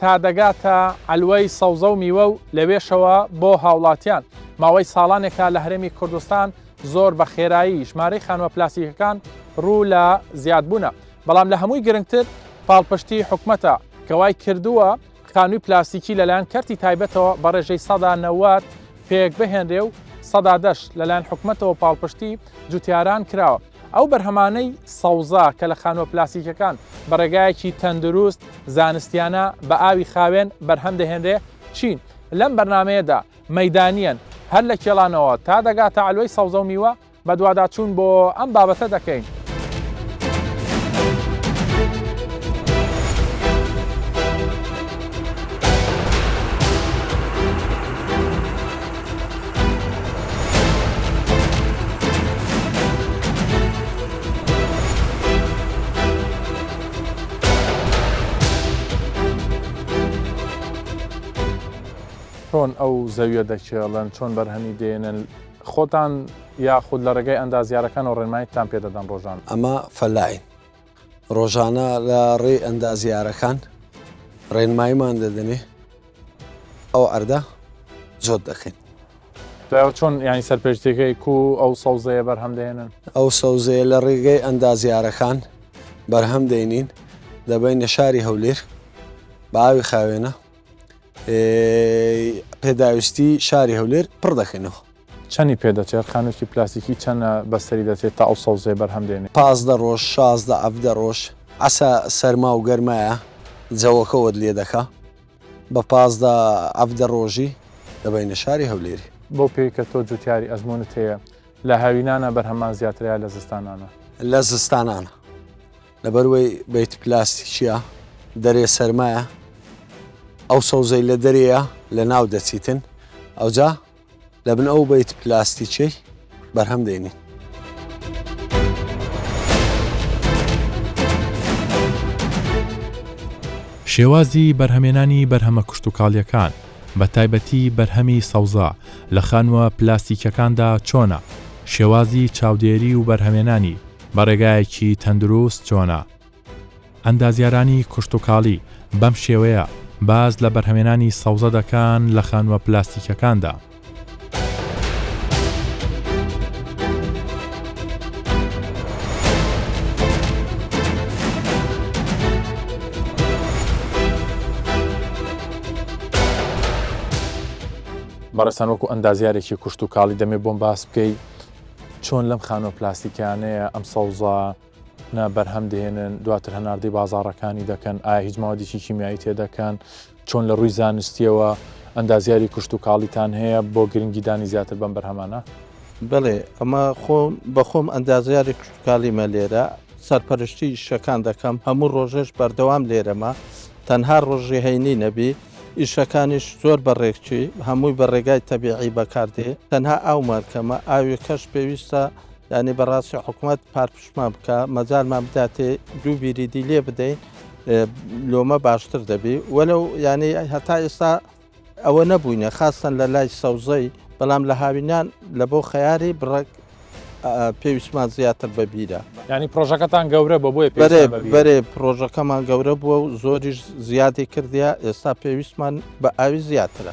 تا دەگاتە عەلوەی سەوزە و میوە و لەوێشەوە بۆ هاوڵاتیان، ماوەی ساڵانێکە لە هەرێمی کوردستان زۆر بە خێرایی ژمارەی خانووە پلاستیکەکان روو لە زیادبوونە، بەڵام لە هەمووی گرنگتر پاڵپشتی حکومەتە کە وای کردووە خانووی پلاستیکی لەلایەن کەرتی تایبەتەوە بە رێژەی سەدا نەوەد پێکبهێنرێ و سەدا دەش لەلایەن حکومەتەوە پاڵپشتی جوتیاران کراوە. ئەو بەرهەمانەی سەوزە کە لە خانووە پلاسیکەکان بە ڕێگایەکی تەندروست زانستیانە بە ئاوی خاوێن بەرهەم دەهێنرێ چین؟ لەم بەرنامەیەدا مەیدانیەن هەر لە کێڵانەوە تا دەگاتە عەلوەی سەوزە و میوە بەدواداچوون بۆ ئەم بابەتە دەکەین. چۆن ئەو زەویە دەکێڵن چۆن بەرهەمی دێنن خۆتان یاخود لە ڕێگەی ئەندازیارەکانەوە ڕێنمایتان پێدەدەن ڕۆژان ئەمە فەلاین ڕۆژانە لە ڕێی ئەندازیارەکان ڕێنماییمان دەدەنێ ئەو عەردە جۆت دەکەین. دوایەوە چۆن یانی سەرپێچتەکەی کو ئەو سەوزەیە بەرهەم دێنن؟ ئەو سەوزەیە لە ڕێگەی ئەندازیارەکان بەرهەم دێنین دەبەینە شاری هەولێر بە ئاوی خاوێنە پێداویستی شاری هەولێر پڕ دەکەینەوە. چەنی پێ دەچێت؟ خانووێکی پلاستیکی چەنە بەسەری دەچێت تا ئەو سەوزەیە بەرهەم دێنێت؟ پازدە ڕۆژ، شازدە عەڤدە ڕۆژ. عەسە سەرما و گەرمایە جەوەکە وەت لێ دەکا. بە پازدە عەڤدە ڕۆژی دەبەینە شاری هەولێری. بەو پێی کە تۆ جوتیاری ئەزموونت هەیە، لە هاوینانا بەرهەممان زیاترە یا لە زستانانا؟ لە زستانانا. لەبەر وەی بەیت پلاستیکییە، دەرێ سەرمایە، ئەو سەوزەی لە دەرێیە لە ناو دەچیتن. ئەوجا. لە بن ئەو بەیت پلاستیچەی بەرهەم دێنین. شێوازی بەرهەمێنانی بەرهەمە کشتتوکاڵیەکان بە تایبەتی بەرهەمی سەوزا لە خانووە پلاستیکەکاندا چۆنە شێوازی چاودێری و بەرهەمێنانی بەڕێگایەکی تەندروست چۆنە ئەندازیارانی کشتوکاڵی بەم شێوەیە باس لە بەرهەمێنانی سەوزە دەکان لە خانووە پلاستیکەکاندا. بەڕێزتان وەکو ئەندازیارێکی کشتوکاڵی دەمێ بۆم باس بکەی چۆن لەم خانووە پلاستیکانەیە ئەم سەوزە نە بەرهەم دەهێنن دواتر هەناردەی بازاڕەکانی دەکەن ئایا هیچ ماوەدیکی کیمیایی تێدەکەن چۆن لە ڕووی زانستیەوە ئەندازیاری کوشت و کاڵیتان هەیە بۆ گرنگیدانی زیاتر بەم بەرهەمانە بڵێ ئەمە خۆم بەخۆم ئەندازیاری کوشتکالیمە لێرە سەرپەرشتی شەکان دەکەم هەموو ڕۆژێش بەردەوام لێرەمە تەنها ڕۆژی هەینی نەبی ئیشەکانیش زۆر بەڕێکچی هەمووی بە ڕێگای تەبیعی بەکاردێ تەنها ئاومان کەمە ئاوی کەش پێویستە یانی بەڕاستی حکومت پارپشمان بکە مەجارمان بداتێ دوو بیری دی لێ بدەین لۆمە باشتر دەبی وەلو یانی هەتا ئێستا ئەوە نەبووینە خاستن لە لای سەوزەی بەڵام لە هاوینان لە بۆ خەیاری بڕک پێویستمان زیاتر بەبیرە ینی پرۆژەکەتان گەورە بە بۆی بەرێ پرۆژەکەمان گەورە بووە و زۆریش زیادی کردیا ئێستا پێویستمان بە ئاوی زیاترە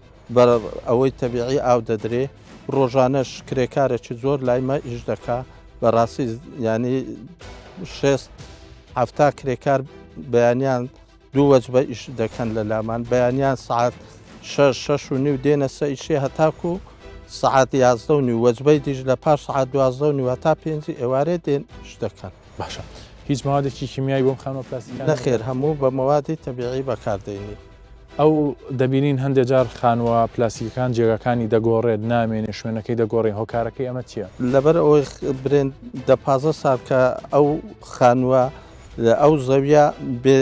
بە ئەوەی تەبیعی ئاو دەدرێ ڕۆژانەش کرێکارێکی زۆر لای مە ئیش دەکا بەڕاستی ینی شێست هەفتا کرێکار بەیانیان دوو وەج بە ئیش دەکەن لە لامان بەیانیان سعات شەش شەش و نیو دێنە سە ئیشێ هەتاکو و سعات یازدە و نیو وەجبەی دیش لە پاش سعات دوازدە و نیوە تا پێنجی ئێوارێ دێن شت دەکەن باشە هیچ ماوادێکی کیمیایی بۆم خانۆ پلاستیک نەخێر هەموو بە مەوادی تەبیعی بەکاردێنی ئەو دەبینین هەندێک جار خانووە پلاستیکیەکان جێگاکانی دەگۆڕێت نامێنێ شوێنەکەی دەگۆڕین هۆکارەکەی ئەمە چیە؟ لەبەر ئەوەی برێن دە پازە سار کە ئەو خانووە ئەو زەویە بێ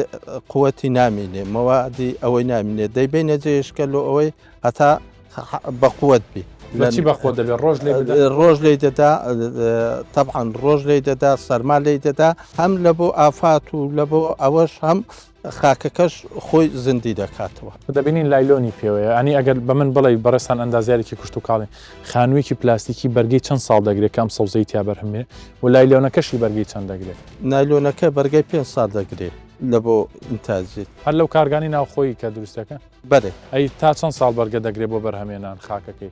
قوەتی نامینێ مەوادی ئەوەی نامینێ دەیبێ نەجێشکە لۆ ئەوەی هەتا بە قوت بی لەچی بەخۆ دەبێت ڕۆژ لێ ڕۆژ لی دەدا تەبان ڕۆژ لی دەدا سەرما لی دەدا هەم لە بۆ ئافات و لە بۆ ئەوەش هەم خاکەکەش خۆی زندی دەکاتەوە. دەبینین لایلۆنی پێوەیە. ئەنی ئەگەر بە من بڵێی بەڕێزتان ئەندازیارێکی کوشتوکاڵی، خانوویەکی پلاستیکی بەرگەی چەند ساڵ دەگرێت کە ئەم سەوزەی تیا بەرهەم بێ و لایلۆنەکەشی بەرگەی چەند دەگرێت؟ نایلۆنەکە بەرگەی پێنج ساڵ دەگرێت لە بۆ ئینتاجی. هەر لەو کارگانەی ناوخۆیی کە دروست دەکەن؟ بەرێ. ئەی تا چەند ساڵ بەرگە دەگرێت بۆ بەرهەمێنان خاکەکەی؟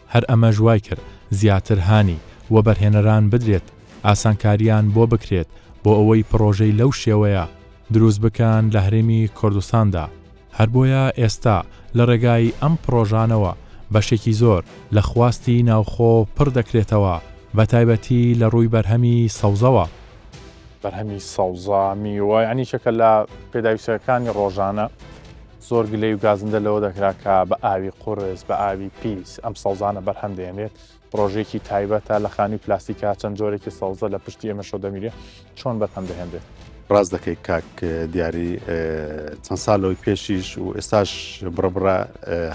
هەر ئەمەش وای کرد زیاتر هانی وەبەرهێنەران بدرێت ئاسانکارییان بۆ بکرێت بۆ ئەوەی پڕۆژەی لەو شێوەیە دروست بکەن لە هەرێمی کوردستاندا، هەر بۆیە ئێستا لە ڕێگای ئەم پڕۆژانەوە بەشێکی زۆر لە خواستی ناوخۆ پڕ دەکرێتەوە بە تایبەتی لە ڕووی بەرهەمی سەوزەوە. بەرهەمی سەوزە، میوە یانی یەکێکە لە پێداویستییەکانی ڕۆژانە، زۆر گلەی و گازندە لەوە دەکرا کە بە ئاوی قورس بە ئاوی پیس ئەم سەوزانە بەرهەم دێنێت ڕۆژێکی تایبەتە لە خانی پلاستیکا چەند جۆرێکی سەوزە لە پشتی ئێمە شۆ دەمیرێت چۆن بەرهەم دەهێنرێت ڕاست دەکەیت کاک دیاری چەند ساڵەوەی پێشیش و ئێستاش بڕبڕە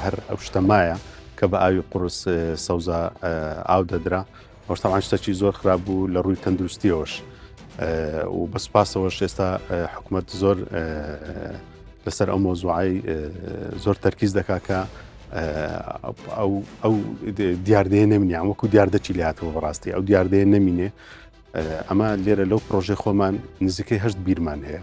هەر ئەو شتەمایە کە بە ئاوی قورس سەوزە ئاو دەدرا ئەوەش تەبعەن شتەکی زۆر خراپ بوو لە ڕووی تەندروستیەوەش و بە سوپاسەوەش ئێستا حکوومەت زۆر لەسەر ئەو مۆزوعی زۆر تەرکیز دەکا کە ئەو دیاردەیە نەمینیان وەکو دیاردەکی لاتەوە بەڕاستی ئەو دیاردەیە نەمینێ ئەمە لێرە لەو پرۆژێ خۆمان نزیکەی هەشت بیرمان هەیە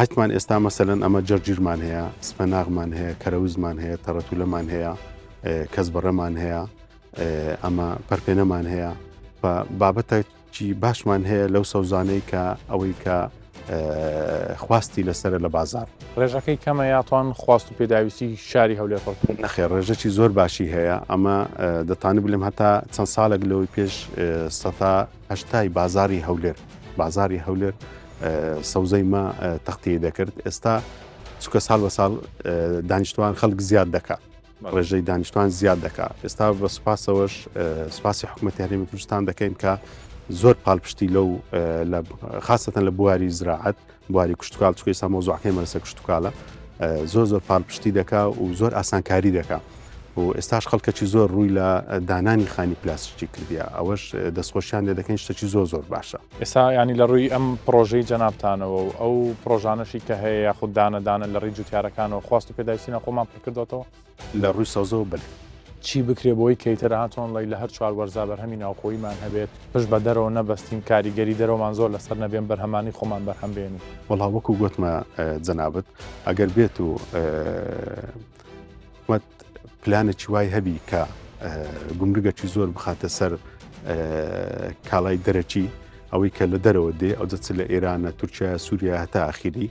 هەتمان ئێستا مەسەلەن ئەمە جەرجیرمان هەیە، سپەناغمان هەیە، کەرەوزمان هەیە، تەڕەتولەمان هەیە، کەس بەڕەمان هەیە، ئەمە پەرپێنەمان هەیە و بابەتە چی باشمان هەیە لەو سەوزانەی کە ئەوەی کە خواستی لەسرە لە بازار ڕێژەکەی کەمە یاتوان خواست و پێداویستی شاری هەولێر پڕ نەخێ ڕێژەی زۆر باشی هەیە ئەمە دەتانی بلم هەتا چەند ساڵێک لەوەی پێش سەتا هەشتای بازاری هەولێر بازاری هەولێر سەوزەی ما تەختی دەکرد ئێستا چکە ساڵ بە ساڵ دانیشتوان خەڵک زیاد دەکات ڕێژەی دانیشتوان زیاد دەکات ئێستا بە سوپاسەوەش سوپاسی حکوومەت هەرێمی کوردستان دەکەین کە زۆر پاڵپشتی لەو خاستەن لە بواری زراعەت بواری کشتوکاڵ چکە ئێستا مەوزوعەکەی مەرسە کشتتوکالە زۆر زۆر پاڵپشتی دەکا و زۆر ئاسانکاری دەکا و ئێستاش خەڵکەکی زۆر ڕووی لە دانانی خانی پلاسیکی کردیا ئەوەش دەستخۆشیان لێ دەکەین شتەکی زۆر زۆر باشە ئێستا ینی لە ڕووی ئەم پرۆژەی جەنابتانەوە و ئەو پرۆژانەشی کە هەیە یاخود دانەدانە لە ڕی جوتیارەکانەوە خواست و پێداویستینە خۆمان پکردێتەوە لە ڕووی سەوزەوە بەلێ. چی بکرێت بۆی کەیتەر ئاتۆنڵەی لە هەر چوار وەرزا بەرهەمی ناوخۆییمان هەبێت، پشت بە دەرەوە نەبەستین، کاریگەری دەرەوەمان زۆر لەسەر نەبێن، بەرهەمانی خۆمان بەرهەم بێنین. وەڵا وەکو گۆتمە جەنابت ئەگەر بێت و حکومەت پلانێکی وای هەبی کە گومرگەکی زۆر بخاتە سەر کاڵای دەرەکی ئەوەی کە لە دەرەوە دێ ئەو دەچ لە ئێرانە تورکیا سووریا هەتا ئاخیری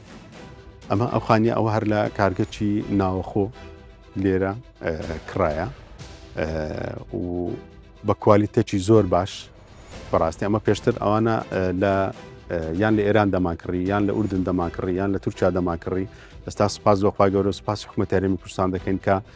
ئەمە ئەو خانیە ئەوە هەر لە کارگەچی ناوەخۆ لێرە کرایە و بە کوالیتەکی زۆر باش بەڕاستی ئەمە پێشتر ئەوانە لە یان لە ئێران دەماکڕی یان لە ئوردن دەماکڕی یان لە تورکیا دەماکڕی ئێستا سپاس لەخوای گەورە سپاس حکومەتەرێمی کوردستان دەکەین کە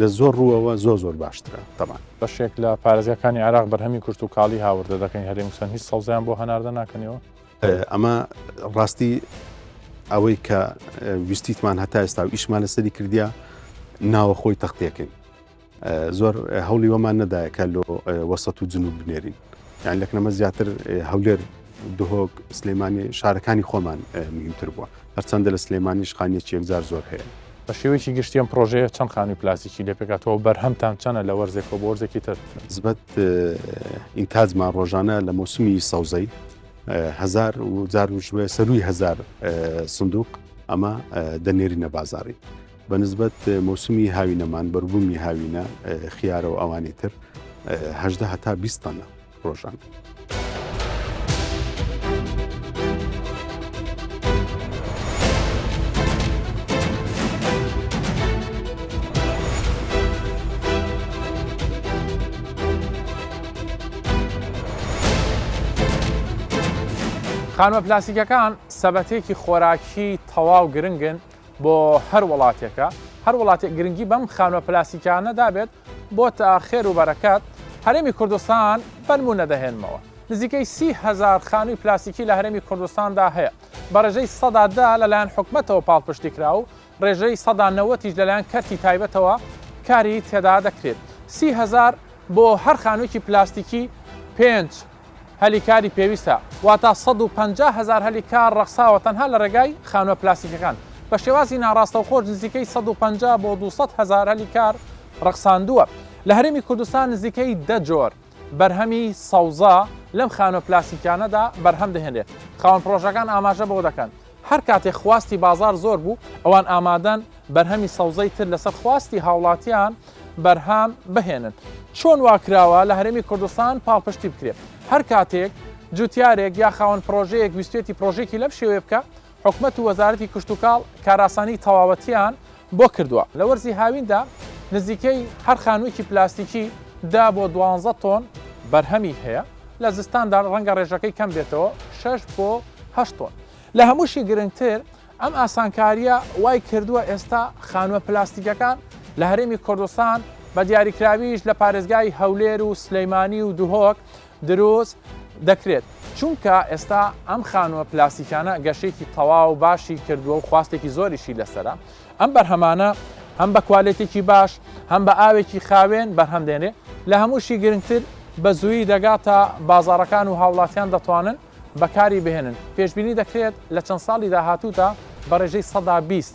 لە زۆر ڕووەوە زۆر زۆر باشترە تەبان. بەشێک لە پارێزگاکانی عێراق بەرهەمی کشتوکاڵی هاوردە دەکەین، هەرێمی کوردستان هیچ سەوزەیان بۆ هەناردە ناکەنەوە؟ ئەمە ڕاستی ئەوەی کە ویستیتمان هەتا ئێستا و ئیشمان لەسەری کردیا ناوەخۆی تەختێکین زۆر هەولی وەمان نەدایە کە لۆ وەسەت و جنوب بنێرین. یان لە کەمە زیاتر هەولێر دهۆک سلێمانی شارەکانی خۆمان مهمتر بووە هەرچەندە لە سلێمانی شخانیەکی یەکجار زۆر هەیە بە شێوەیەکی گشتیان پرۆژەیە چەند خانووی پلاسیکی لە پێکاتەوە بەرهەمتان چەنە لە وەرزێک و بۆرزێکی تر زبەت ئینتاجمان ڕۆژانە لە مۆسمی سەوزەی هزار و جار وشوێ سەروی هزار سندوق ئەمە دەنێری نەبازاری بە نسبەت مەوسمی هاوینەمان بەربوومی هاوینە خیارە و ئەوانی تر هەدە هەتا بیستانە ڕۆژان. خانوە پلاسیکەکان سەبەتێکی خۆراکی تەواو گرنگن بۆ هەر وڵاتێکە هەر وڵاتێک گرنگی بەم خانوە پلاسیکانە دابێت بۆ تا خێر و بەرەکات هەرێمی کوردستان بەنمو نەدەهێنمەوە نزیکەی سی هزار خانووی پلاسیکی لە هەرێمی کوردستاندا هەیە بە ڕێژەی سەدادا لەلایەن حکومەتەوە پاڵپشتی کرا و ڕێژەی سەدا نەوەتیش لەلایەن کەرتی تایبەتەوە کاری تێدا دەکرێت سی هزار بۆ هەر خانوویکی پلاستیکی پێنج هەلی کاری پێویستە، واتا سەد و پەنجا هەزار هەلی کار ڕەخساوە تەنها لە ڕێگای خانووە پلاستیکیەکان، بە شێوازی ناڕاستەوخۆش نزیکەی سەد و پەنجا بۆ دوو سەد هەزار هەلی کار ڕەخساندووە. لە هەرێمی کوردستان نزیکەی دە جۆر بەرهەمی سەوزە لەم خانووە پلاستیکیانەدا بەرهەم دەهێنرێت، خاوەن پڕۆژەکان ئاماژە بەوە دەکەن، هەر کاتێک خواستی بازاڕ زۆر بوو، ئەوان ئامادەن بەرهەمی سەوزەی تر لەسەر خواستی هاوڵاتیان بەرهەم بهێنن. چۆن وا کراوە لە هەرێمی کوردستان پاڵپشتی بکرێت؟ هەر کاتێک جوتیارێک یا خاوەن پڕۆژەیەک ویستوێتی پڕۆژەیەکی لەم شێوەیە بکا، حکومەت و وەزارەتی کشتوکاڵ کارئاسانی تەواوەتیان بۆ کردووە. لە وەرزی هاویندا نزیکەی هەر خانوویەکی پلاستیکی دە بۆ دوانزە تۆن بەرهەمی هەیە، لە زستاندا ڕەنگە ڕێژەکەی کەم بێتەوە شەش بۆ هەشت تۆن. لە هەمووشی گرنگتر ئەم ئاسانکارییە وای کردووە ئێستا خانووە پلاستیکەکان لە هەرێمی کوردستان بە دیاریکراویش لە پارێزگای هەولێر و سلێمانی و دهۆک دروست دەکرێت چونکە ئێستا ئەم خانووە پلاسیکانە گەشێکی تەواو باشی کردووە و خواستێکی زۆریشی لەسرە ئەم بەرهەمانە هەم بە کوالێتێکی باش هەم بە ئاوێکی خاوێن بەرهەم دێنێ لە هەمووشی گرنگتر بە زووی دەگاتە بازارەکان و هاوڵاتیان دەتوانن بەکاری بهێنن پێشببینی دەکرێت لە چەند ساڵی داهاتوودا بە ڕێژەی سەدا بیست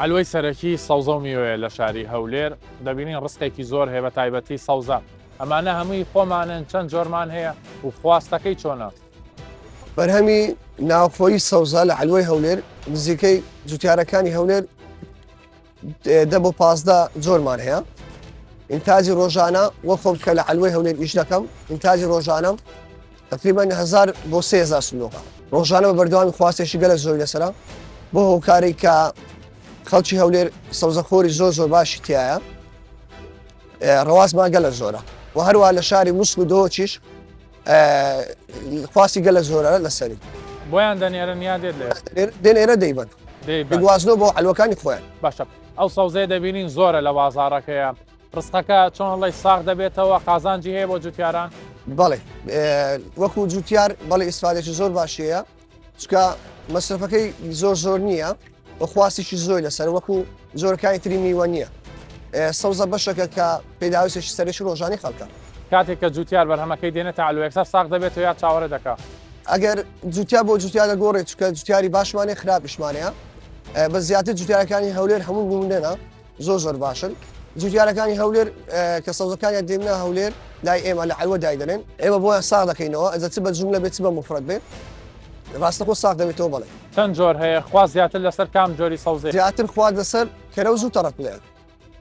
عەلوەی سەرەکی سەوزە و میوەیە لە شاری هەولێر، دەبینین ڕسقێکی زۆر هەیە بە تایبەتی سەوزە، ئەمانە هەمووی خۆمانن چەند جۆرمان هەیە و خواستەکەی چۆنە؟ بەرهەمی ناوخۆیی سەوزە لە عەلوەی هەولێر نزیکەی جوتیارەکانی هەولێر دە بۆ پازدە جۆرمان هەیە ئینتاجی ڕۆژانە وە خۆم کە لە عەلوەی هەولێر ئیش دەکەم ئینتاجی ڕۆژانم تەقریبەن هەزار بۆ سێ هەزار سندوقە ڕۆژانە بە بەردەوامی خواستێکی گەلە زۆری لەسرە بۆ هۆکاری کە خەڵکی هەولێر سەوزەخۆری زۆر زۆر باشی تایە ڕواستمان گەلە زۆرە و هەروە لە شاری موسک و دۆچیش خواستی گەلە زۆرە لەسەری بۆیان دەنێرن یا دێت لێ دێنێرە دەیبن دەیگوازنەوە بۆ ئەلوەکانی خۆیان باشە ئەو سەوزەیە دەبینین زۆرە لە بازارەکەیە ڕسقەکە چۆن ئەڵێی ساغ دەبێتەوە قازانجی هەیە بۆ جوتیاران؟ بەڵێ وەکو جوتیار بەڵێ ئیسفادێکی زۆر باشەیە چکە مەسرفەکەی زۆر زۆر نییە و خواستێکی زۆر لەسەر وەکو زۆرەکانی تری میوە نییە سەوزە بەشەکە کە پێداویستێکی سەرێکی ڕۆژانی خەڵکە کاتێک کە جوتیار بەرهەمەکەی دێنە تاالوێکسەر ساق دەبێت و یا چاوەڕێ دەکە ئەگەر جوتیا بۆ جوتیا لە گۆڕێ چکە جوتیاری باشمانێ خراپیشمانەیە بە زیاتر جوتیارەکانی هەولێر هەموو بوومنێنە زۆر زۆر باشن جوتیارەکانی هەولێر کە سەوزەکانیان دێننا هەولێر لای ئێمە لە عەوە دایدەێن ئێمە بۆیان سا دەکەینەوە ئەزە چ بە جملە بێت چ بە مفرەت بێت ڕاستەخۆ ساق دەبێتەوە بڵێ چەند جۆر هەیە خوا زیاتر لەسەر کام جۆری سەوزێ زیاتر خوا لەسەر کەرە و زوو تەڕک لێ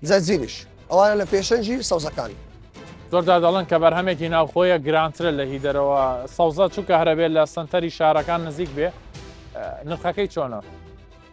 زەرزیریش ئەوانە لە پێشەنجی سەوزەکانی زۆردا دەڵن کە بەرهەمێکی ناوخۆیە گرانترە لە هی دەرەوە سەوزە چووکە هەرەبێت لە سنتەری شارەکان نزیک بێ نرخەکەی چۆنە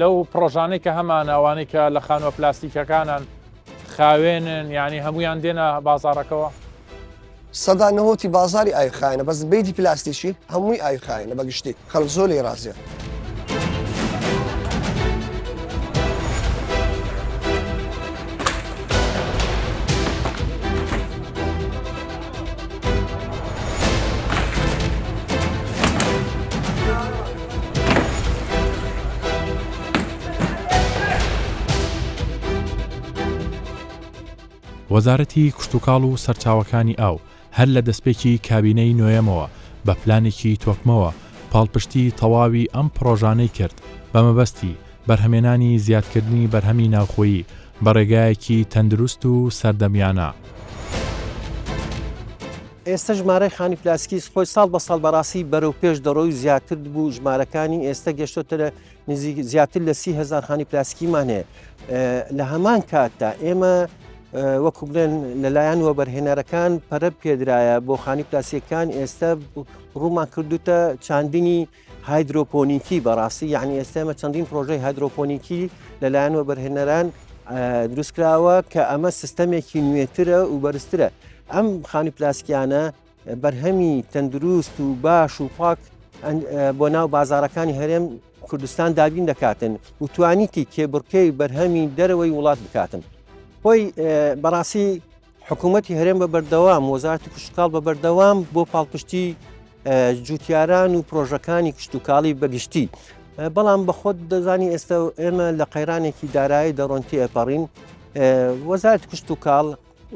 لەو پرۆژانەی کە هەمان ئەوانەی کە لە خانوە پلاستیکەکانان خاوێنن یعنی هەمویان دێنە بازارەکەەوە سەدا نەهۆتی بازاری ئایخایەنە بەس بیدی پلاستیکی هەمووی ئایخایەنە بەگشتی خەڵ زۆر لێ رازیە. وەزارەتی کشتتوکاڵ و سەرچاوەکانی ئاو هەر لە دەستپێکی کابینەی نوێەمەوە بە پلانێکی تۆکمەوە پاڵپشتی تەواوی ئەم پرۆژانەی کرد بە مەبەستی بەرهەمێنانی زیادکردنی بەرهەمی ناوخۆیی بە ڕێگایەکی تەندروست و سەردەمیانە. ئێستە ژمارەی خانی پلاستیکی سپۆی ساڵ بە ساڵ بەڕاستی بەرەو پێش دەڕۆی و زیاتر بوو ژمارەکانی ئێستە گەشتۆتە نزیک زیاتر لە سی هزار خانی پلاستیکیمان هەیە لە هەمان کاتدا ئێمە وەکو بڵێن لەلایەن وەبەرهێنەرەکان پەرە پێدرایە بۆ خانی پلاسیەکان ئێستا ڕوومان کردوتە چاندنی هایدرۆپۆنیکی بەڕاستی یعنی ئێستا ئێمە چەندین پرۆژەی هایدرۆپۆنیکی لەلایەن وەبەرهێنەران دروستکراوە کە ئەمە سیستەمێکی نوێترە و بەرزترە ئەم خانی پلاسکیانە بەرهەمی تەندروست و باش و پاک بۆ ناو بازارەکانی هەرێم کوردستان دابین دەکاتن و توانیتی کێبڕکەی بەرهەمی دەرەوەی وڵات بکاتن خۆی بەڕاستی حکوومەتی هەرێم بە بەردەوام وەزارتی کشتتوکاڵ بە بەردەوام بۆ پاڵپشتی جوتیاران و پرۆژەکانی کشتتوکاڵی بەگشتی بەڵام بەخۆت دەزانی ئێستا ئێمە لە قەیرانێکی دارایی دەڕۆنتی ئەپەڕین وەزارت کشت و کاڵ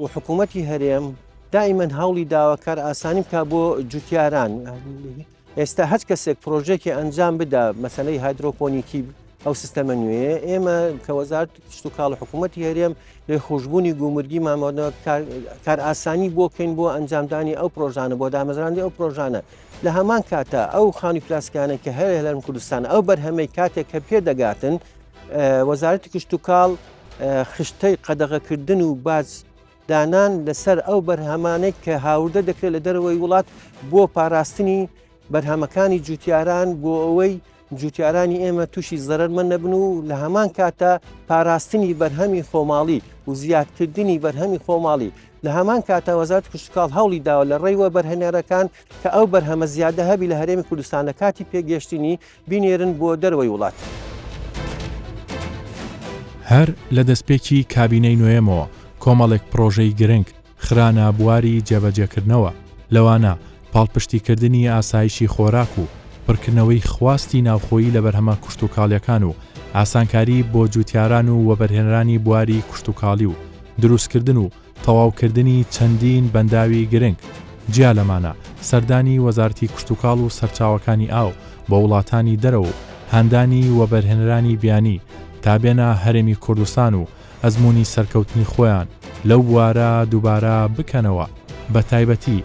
و حکوومەتی هەرێم دائیمەن هەوڵی داواکار ئاسانی بکە بۆ جوتیاران ئێستا هەچ کەسێک پرۆژێکی ئەنجام بدا مەسەلەی هایدرۆپۆنیکی ئەو سیستەمە نوێ ئێمە کە وەزارت کشت و کاڵ حکوومەتتی هەرێم لێ خوشببوونی گومرگی مامەوە کار ئاسانی بۆکەین بۆ ئەنجامدانی ئەو پرۆژانە بۆ دامەزراندی ئەو پرۆژانە لە هەمان کاتە ئەو خانی پلاسکانە کە هەیە لەم کوردستان ئەو بەرهەمەی کاتێک کە پێ دەگاتن وەزارەتی کشت و کاڵ خشتەی قەدەغەکردن و باز دانان لەسەر ئەو بەرهەمانەی کە هاوردە دەکرێت لە دەرەوەی وڵات بۆ پاراستنی بەرهەمەکانی جوتیاران بۆ ئەوەی جوتیارانی ئێمە تووشی زەرمە نەبن و لە هەمان کاتە پاراستنی بەرهەمی خۆماڵی و زیادکردنی بەرهەمی خۆماڵی لە هەمان کاتە وەزات کشتکاڵ هەوڵی داوە لە ڕێیوە بەرهێنەرەکان کە ئەو بەرهەمە زیادە هەبی لە هەرێمی کوردستان لە کاتی پێگەشتنی بینێرن بۆ دەرەوەی وڵات. هەر لە دەستپێکی کابینەی نۆیەمەوە کۆمەڵێک پڕۆژەی گرنگ خرانە بواری جێبەجێکردنەوە، لەوانە پاڵپشتیکردنی ئاسایشی خۆراک و پڕکردنەوەی خواستی ناوخۆیی لە بەرهەمە کشتوکاڵییەکان و ئاسانکاری بۆ جووتیاران و وەبەرهێنەرانی بواری کشتوکاڵی و دروستکردن و تەواوکردنی چەندین بەنداوی گرنگ، جیا لەمانە سەردانی وەزارەتی کشتوکاڵ و سەرچاوەکانی ئاو بۆ وڵاتانی دەرەوە و هاندانی وەبەرهێنەرانی بیانی تا بێنە هەرێمی کوردستان و ئەزموونی سەرکەوتنی خۆیان لەو بوارە دووبارە بکەنەوە بەتایبەتی